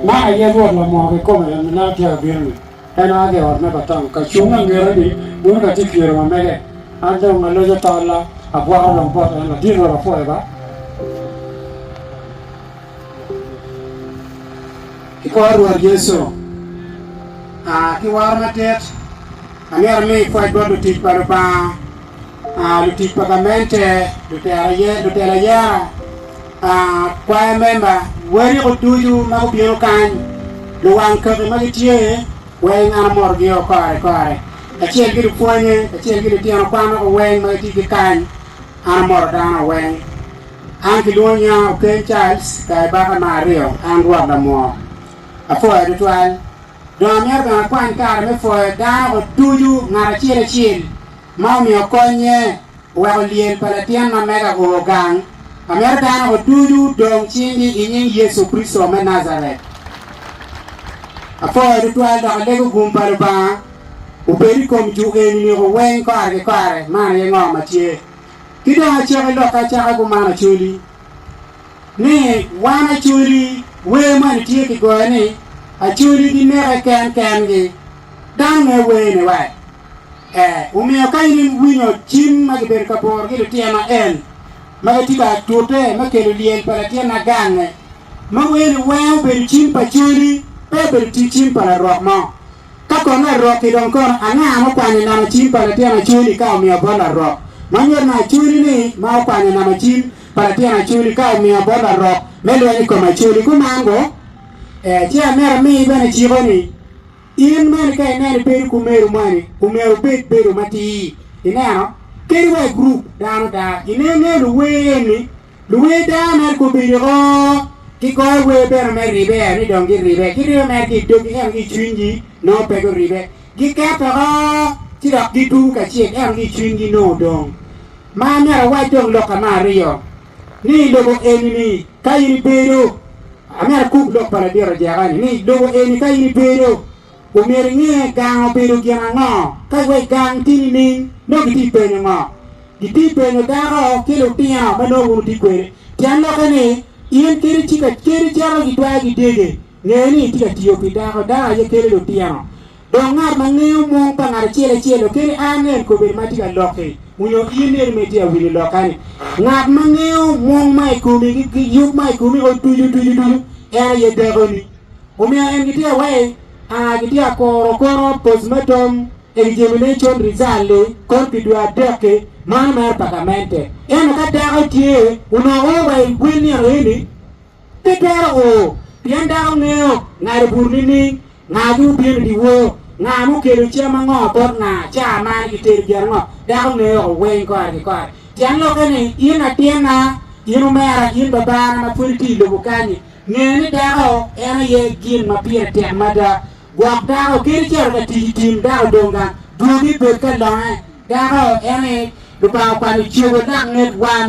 Man aye Rwot lamor kikome en ma atye ka bino-ni. En a ki i ot me Batham ka cung angete-ni, bino ka tye pyero ma mege. An dong aloco tolla, abwako lom bot en, ladit Rwot apwoye ba. I kor Rwot Yecu a ki woro madit, angera mi pwoc bot lutic pa Lubanga. lutic pa gamente, lutelo ayera, kwaya memba, weriko ducu ma gubino kany, luwang kaki ma gitye weng an amotogi o kore kore kacel ki lupwonye kacel ki litino kwan woko weng ma gitye ki kany, an amoto dano o weng. An kilwongo nya Okeny Charles Kaibaka me aryo, an rwot lamwor. Apwoya tutwal. Dong amyero bene akwany kare me pwoyo dano o ducu ngat acel acel. ma omiyo konnye oweko lyel pa latin ma mega o gang, amito dano oducu dong cingi i nying Yecu Kricito me Najaret. Apwoyo tutwal dok alego gum pa Lubanga obed i kom ju eni niko weng kare ki kare. Man aye ngo ma tye. Ki dong aciko i lokka acaka i kuman acoli ni wan acoli, wer moni tye kigoyo ni, Acoli gineke ken kengi. Dano me wer ni wat ee. Omiyo ka in iwinyo cim ma gibedo ka poro ki lutyen ma en ma gitye ka tute me kelo lyel pa latin agange, ma wee ni weng obedo cim pa coli, pe obedo tic cim pa larok mo. Ka kono larok-ki dong kono, anga ma okwanyo nama cim pa latin acoli ka omiyo bot larok? Ma nyuto ni acoli-ni ma okwanyo nama cim pa latin acoli ka omiyo bot larok me lweny i kom acoli kuman-gu? Ee, ci amito amiyi bene ciko-ni. In bene ka ineno ibedo ki omeru moni, omyero obed bedo matir. Ineno? Kadi wa i gurup dano ada, ineno ingeyo luwer eni, luwer dano mere gubini o, gigoyo wer bene me ribe ni dong giribe, giribe mere ki i doggi ento ki i cwinygi nongo pe guribe. Giketo oko ci dok gitugo kacel ento ki i cwinygi nongo dong. Ma amyero awac dong lokke me aryo. Ni i lobo eni-ni ka in ibedo, amito akub lok pa ladit ajaka-ni, ni i lobo eni ka in ibedo, omyero inge gang obedo gin ango. Ka iweco gang ti nining? Nongo gitye i penyo ngo? Gitye i penyo dako ki lutino ma nongo wun wutye kwede. Tyen lokke ni, in kadi ci kacedi cito gitwero gidege. Nge ni itye ka tiyo pi dako, dako aye kelo lutino. Dok ngat ma ngeyo mung pa ngat acel acel okeri a ange en kobene ma tye ka lokki, onyo in neri ma itye ka winyo lokka-ni. Ngat ma ngeyo mung ma i komi ki yub ma i komi o ducu ducu ducu, en aye dakoni. Omiyo en gitye ka wai a gitye ka koro koro postmatum examination result li kor ki dwe adek-ki, mano mere pa gamente. Ento ka dako tye, onongo oro wa i gwel nino eni. Pe twero o, pien dano ngeyo ngado bur nining? Nga ki wubino i dyewor? Nga ma okelo cam ango bot nga? Ca man gitedo gin ango? Dako ngeyo o weny kore ki kore. Tyen lokke ni, in atinna, in omera, in babana ma pwod itye i lobo kanyi, nge ni dako en aye gin ma pire tek mada. Gwok dako, kadi calo ka tic i tim dako dong gang, dwogi bed ka longe. Dako en aye Lubanga okwano cobo lak nget wan.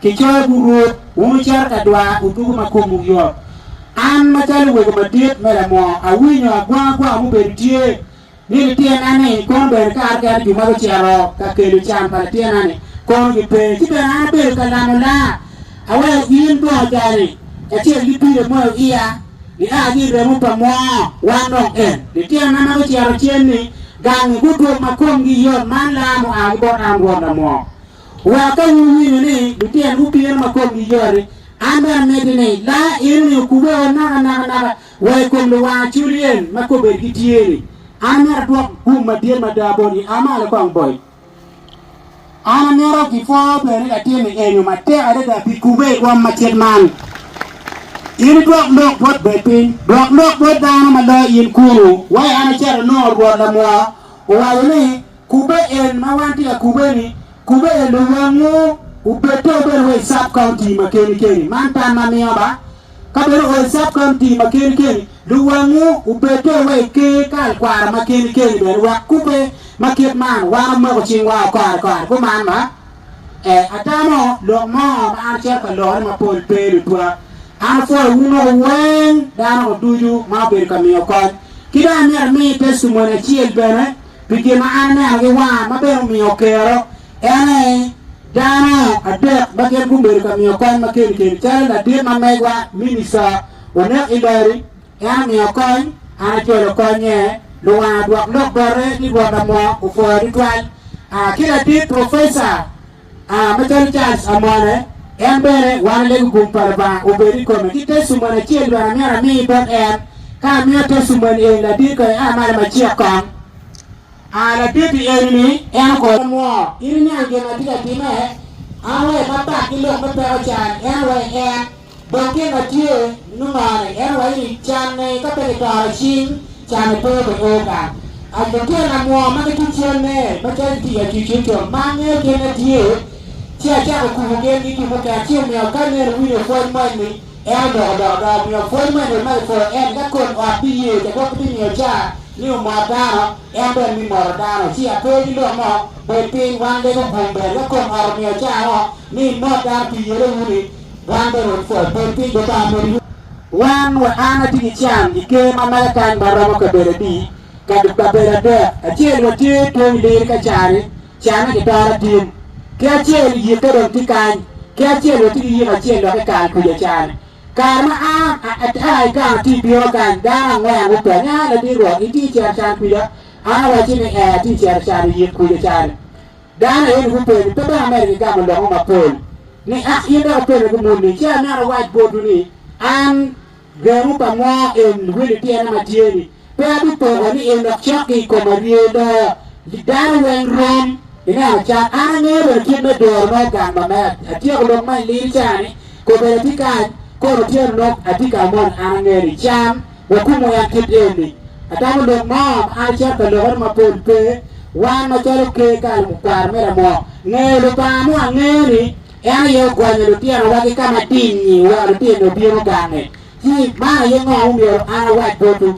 Kicoyo bur Rwot, wun wucito ka dwa odwogo ma komwu yot. An macalo wego madit me lamo, awinyo agwangagwanga mubedo tye, ni lityenna-ni kono bene kare kene jo ma gucito ka kelo can pa lityenna-ni kono gipe, ci bene an abedo ka lamo laa, aweyo gin bongo cani kacel ki pii emoyo iya, nia ki i remo pa moo, wan dong en, lityenana ma gucito cen-ni, gangi gudwog ma komgi yot, man laa mua ki bot an Rwot Lamwok. Wa ka wuwinyo ni lutinwu bino ma komgi yot-ti, an bene ameddi ni, La enoni okubbe o naka naka naka wa i kom luwang aculyen ma kobedigi tye-ni, An myero adwok gum madit mada botgi, a malo kong boc. An amito gipwo bene ni latin-ni eenyo matek adada pi kubbe i kom macit man. In idwok lok bot bed piny, dwok lok bot dano ma loyo in kunu, wai an acito anongo Rwot lamwa owaco ni, Kubbe en ma wan tye ka kubbe ni kubbe en dong wangu obedde obedo wa i sub county ma keni keni man tam ma miyo ba ka bene oo i sub county ma keni keni dong wangu obedde wa i ker kal kwara ma keni keni bene wek kubbe ma kit man wan omoko cing wa o kare kare kuman ma e atamo lok mo ma an acito ka lorone ma pol pe lutwa an apwoyo wu moko weng dano ducu ma obedo ka miyo kony ki dong amito amiyi testimony acel bene pi gin ma an aneno ki wanga ma bene omiyo okero, en ni, dano adek ma gin gubedo ka miyo kony ma keni keni, calo ladit ma megwa Minista Onek Ilori, en omiyo kony, an acwalo okonye, luwanga odwok lok bote ni Rwot Amoo opwoyo tutwal, ki ladit Professor A Macalo Charles amone, en bene wano lego gum pa Lubanga obed i kome. Ki te cumwen acel bene amyero ami bot en. Ka amiyo te cumwen eni ladit kong, ia malo ma cik kong. A Ladit-ti eni-ni en okobo nwo, in iniang gin ma atye ka timme? An wa i Makbak ki lok me peko can, en wa i en. Dong gin ma tye nongo ni en waco ni canne ka pe kitoro cing, canne pe obe o gang. A Lutino amwoo ma gitye canne macalo gitye i acuc cuc co ma angeyo gin na tye ci acako kubo gin gi gin mukene ci omiyo ka nene winyo pwony mo eni en oloko dok ada omiyo pwony mo eni ot ma kipwoyo eni ka kod ot biye ca gwok gibi miyo ca ni omot dano en bene mi moto dano ci ape ki lok mo bed piny wan lego gum bene ka kod ot omiyo ca o ni imot dano pi yele uni Wan bene watwero abed piny dong ka amedde yuto. Wan wa an atye ki can ki ker ma mega kany ma romo kabedo adi? Kabedo adek. Acel watye pwony lir ka cani, canne ki toro atim. Ki acel yikke dong tye kany. Ki acel watye ki yiko acel dok ekal kwica cani. Kare ma an aa i kano ti bino kany, dano angwen gupenya, Ladit Rwot, itye cito cani kwica? An awacci ni ee atye cito cano yik kwica cani. Dano aye ni gupenyo, pe dong ameri gigamo loko mapol ni ak in dok ipene gu muni? Ci anaka awac botwu ni, an gengo pa mo en wili tyena ma tye ni, pe abipoko ni en dok cok ki i koma rye loyo dano weng rom. Ineno cat, an angeyo bene kit me doro nongo gang ma mea. Atyeko lok ma i liri ca ni, kobedi atye kany, kono otyeno nongo atye kamo ni an angeyo ni cam, Wakumo yat kit eni. Ata wa lok mo ma an acito ka lokere mapol pe, wan macalo ker kare mukwaro me Ramok, ngeyo Lubanga mo angeya ni en aye ogwanyo lutinowa ki ka madingngi wek lutino obino gange. Ci, man aye ngo ma myero an awac botwu.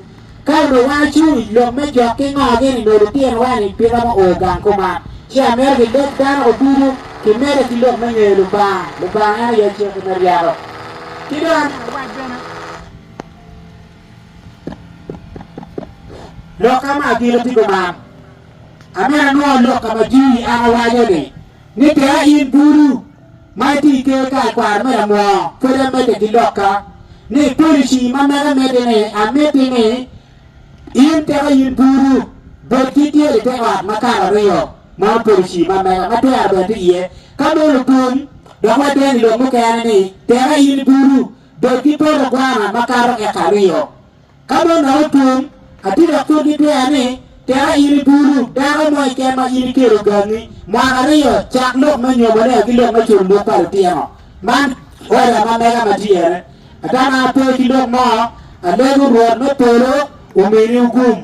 Ka onongo wan acung i lok me jok ki ngogi ni nongo lutinowa-ni pe romo o gang kuman, ci amito ki leb dano wa ducu kimedde ki lok me ngeyo Lubanga. Lubanga en aye aciki me ryeko. Ci dong amito awac bene. Lok ka ma agire tika man. Amera anongo lok ka ma Jimmy an awaco ni, ni tika in bulu ma iti i ker kar kwaro me lamwoo pwod amedde ki lok ka ni policy ma mega miti ni amiti ni in tika in bulu bed ki tyel i te ot ma kar ariyo man policy ma mega ma twero bene ti iye ka meno bul dok waden i lok mukene ni tika in bulu bed ki poto gwana makato eka aryo. Ka mon dok otum, atye ka kobbi twer ni, Tera in i bulu dako mo keken ma in ikelo gangi mwaka aryo cak lok me nyomone ki lok me culo lwok pa litino. Man oda ma mega ma tyer-re. Atama ape ki lok mo. Alego Rwot me polo omini ogum.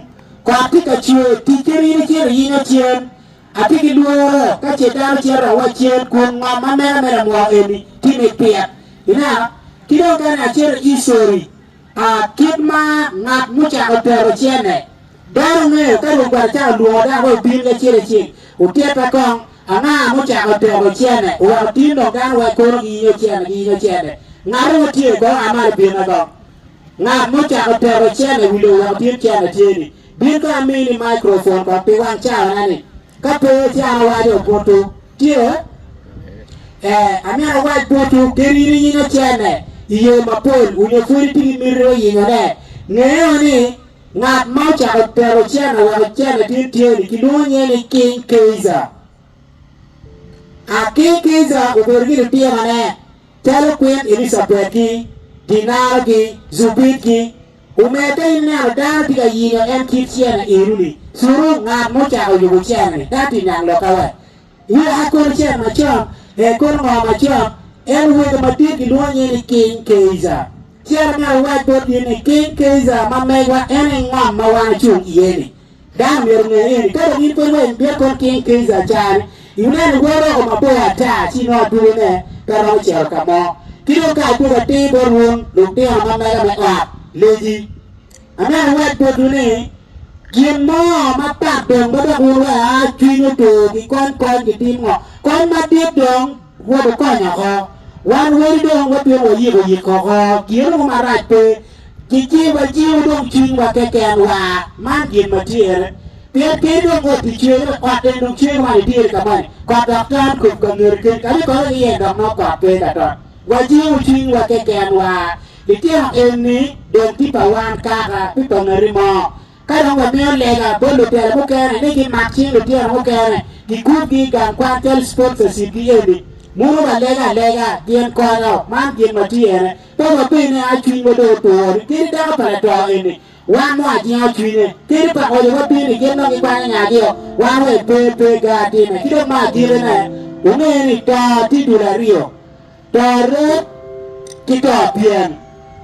Kot tye ka cwer, tic ki rino cito iyinga cen. Atye ki lworo ka ce dano cito awa cen kun ngom ma mena me lamwoko eni tye mit pire. Ineno? Ki dong kene acito ki i sori, a, kit ma ngat mucako tero cene. Dano ngeyo ka Rwot Gwal ocako lwongo dano wek obin ki acel acel, otitta kong, Anga mucako tero cene, oweko tin dong dano wai kono giyinyo cene, giyinyo cene? Ngate ma tye i kor a malo binna kong. Ngat mucako tero cene wi lobo oweko tin cene tye-ni. Bin ka amini microphone kong pi wang cawana ni ka pe ityana waco butu tye eh amyero awac butu gin in iyinyo cene iyoo mapol onyo pwod itye ki miti yinyo ne ngeyo ni ngat ma ocako tero cene weko cene tin tye ni kilwongo nyinge ni king keiza ah king keiza obedo ki litino ne Calo kwit Elicabet ki Dinara ki Zubit ki omer ka in ineno dano tye ka yingo en kit cene eno ni suru ngat ma ocako yubu cene ni dano tye niang loka we i a kono cene macon e kono ngo macon en wego madit gilwongo nyinge ni king keiza cere meno awac bot in ni king keiza ma megwa en i ngom ma wan ocung iye ni Dano omyero onge ni, ka dong in kodi wa i Viet Cong King Kaiser Chan, ineno bot roko mabor ata ci inongo adwogi ne pe romo cito ka mo. Ki dong ka adwogi atir bot wun lutino ma mega me ot legi, amyero iwac botwu ni, Gin mo mapat dong ma dok wun wa cwiny otur, kikony kony, kitim ngo kony madit dong? Rwot okony oko. Wan weri dong watwero wayik oyik oko, tyen mo marac pe. Kicib ajiwo dong cwinywa keken wa, man gin ma tyer. Pien kadi dong rwot pi cwer, ento kot en dong cwer man idyeri ka moni, kot dok ton kop ka ngete keni, kadi kore ki yen dok nongo kot pe ka tot. Wajiwo cwinywa keken wa. Litino enni dong ti pa wan kaka, pi pa ngati mo. Ka dong wamiyo lega bot lutela mukene ni gimak cing litino mukene gikubgi i gang kwan cal Sports Acid-gi eni, muno wa lega alega gin konyo man gin ma tye ene. Pe wabed ni a cwinywa dong otur ni kadi dako pa lato eni wan nongo ajingo cwinye, kadi pa ngoca wabin ni gin nongo gikwanyo nyagi-o, wan wek pe pe gar time. Ki dong ma agikine, wunge ni to tye dul aryo. Torre ki torpyen.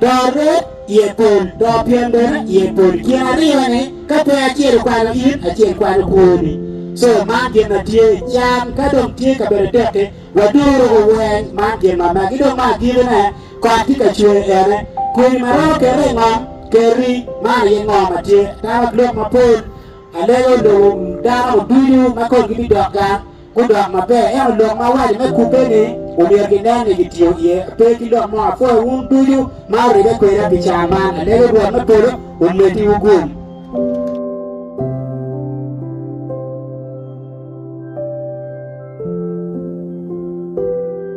Torre iye pol, torpyen bene iye pol. Gin aryo-ni ka pe acel okwalo in, acel kwalo kwoni. Co, man gin ma tye. Can ka dong tye i kabedo tek-ki, waduru oweny, man gin ma magi. Dong me agikine, kot tye ka cwer ene. Kwoni ma romo kere i ngom, Kerri, man aye ngo ma tye. Atamo lok mapol, alego lobo, dano ducu ma komgi bidok gang. gudok maber, ento lok ma awaco me kubbe-ni omyero ginen ni gitiyo iye. Pe ki lok mo, apwoyo wun ducu ma wuribbe kweda pi cawa man. Alego Rwot me polo omeddiwu gum.